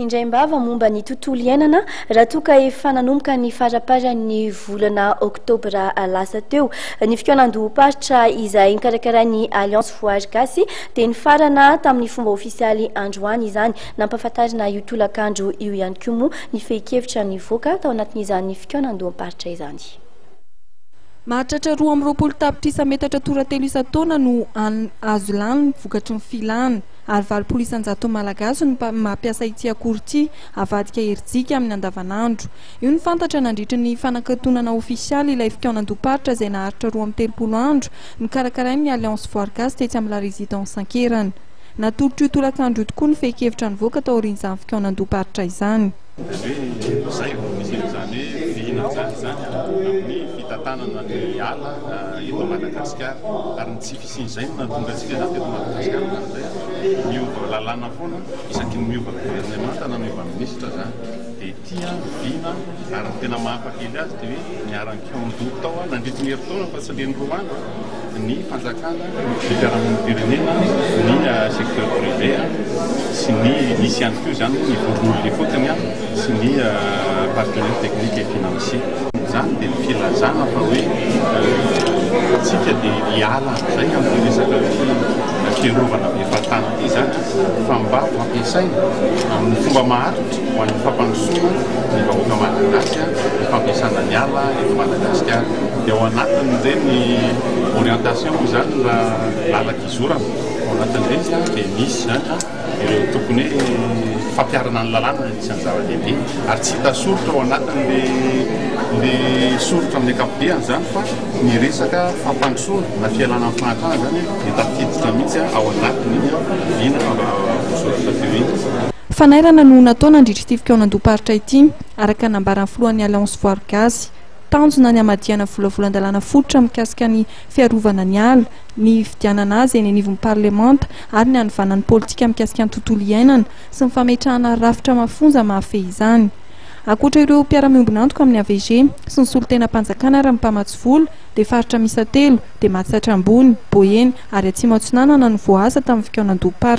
Indraim-bava momba ny tontolo iainana raha toa ka efa nanomboka ny faraparan'ny volana oktobra lasa teo. Ny fikaonandohom-paritra izay nokarakarain'ny Alliance Voary Gasy dia nifarana tamin'ny fomba ofisialy androany izany. Nampahafantarina io tolakandro io ihany koa moa ny fehin-kevitra nivoaka tao anatin'izany fikaonandoham-paritra izany. Mahatratra roa amby roapolo tapitrisa metatra tora-telo isan-taona no azo lany vokatry ny filana. ary valopolo isan-jaton'ny Malagasy no mampiasa ity akora ity havadika herijika amin'ny andavanandro. Io no fantatra nandritra ny fanakatonana ofisialy ilay fikaonandoha-paritra izay naharitra roa amby telopolo andro nokarakarain'ny Alliance Voire Gasy tetsy amin'ny La Résidence Ankerana. Natolotro io tolakandro io tokoa ny fehin-kevitra nivoaka taorian'izany fikaonandoha-paritra izany. Izay no misy an'izany hoe fihinantsary izany amin'ny fitantanana ny ala eto Madagasikara ary ny tsy. Tsy izay no nahatonga antsika izany teto Madagasikara indraindray an! Miova lalàna foana, isaky ny miova governemanta na miova minisitra izany dia ity an, vina an, ary ny tena maha-hafa kely azy dia hoe niharan-kiandoha tao an, nandritry ny herintaona fa tsy le ny roa andro an, ny fanjakana, ny fiarahamonim-pirenena, ny secteur privé an, sy ny nisy ihany koa izany hoe ny vondron'olona ifotony an. sy ny partenaires techniques et financiers. Izany dia filazana fa hoe isika dia hiala amin'izay amin'ity resaka fiarovana be fahatany ity izany fa mba hampiasaina amin'ny fomba maharitra ho an'ny fampandrosoana ny vahoaka malagasy ny fampiasana ny ala eto Madagasikara. Dia ao anatin'ireny orientation moa izany raha làlak'izorana, ao anatin'ireny izany dia misy izany. ireo tokony fampiharana ny lalàna no tsy anjara-dehibe ary tsy hita soritra ao anatin'ilay soritra amin'ny ankapobeny izany fa ny resaka fampandrosoana na fialana amin'ny fahantrana izany dia tafiditra mihitsy ao anatin'iny vina voasoratra teo iny. Fanairana no natao nandritra ity fikaonandoha-paritra ity, araka ny nambaran'ny filohan'ny Alliance Voaro Gasy. Tanjona ny hamadihana volavolan-dalàna fototra mikasika ny fiarovana ny ala. ny hifidianana azy eny anivon'ny parlemanta ary ny hanovana ny politika mikasika ny tontolo iainana sy ny fametrahana rafitra mafonja mahafehy izany. Ankoatra ireo mpiara-miombon'antoka amin'ny AVG sy ny solontenam-panjakana ary ny mpamatsy vola dia faritra miisa telo dia Matsiatra Ambony, Boeny ary Atsimo Atsinanana no voaasa tamin'ny fikaonandoha-paritra.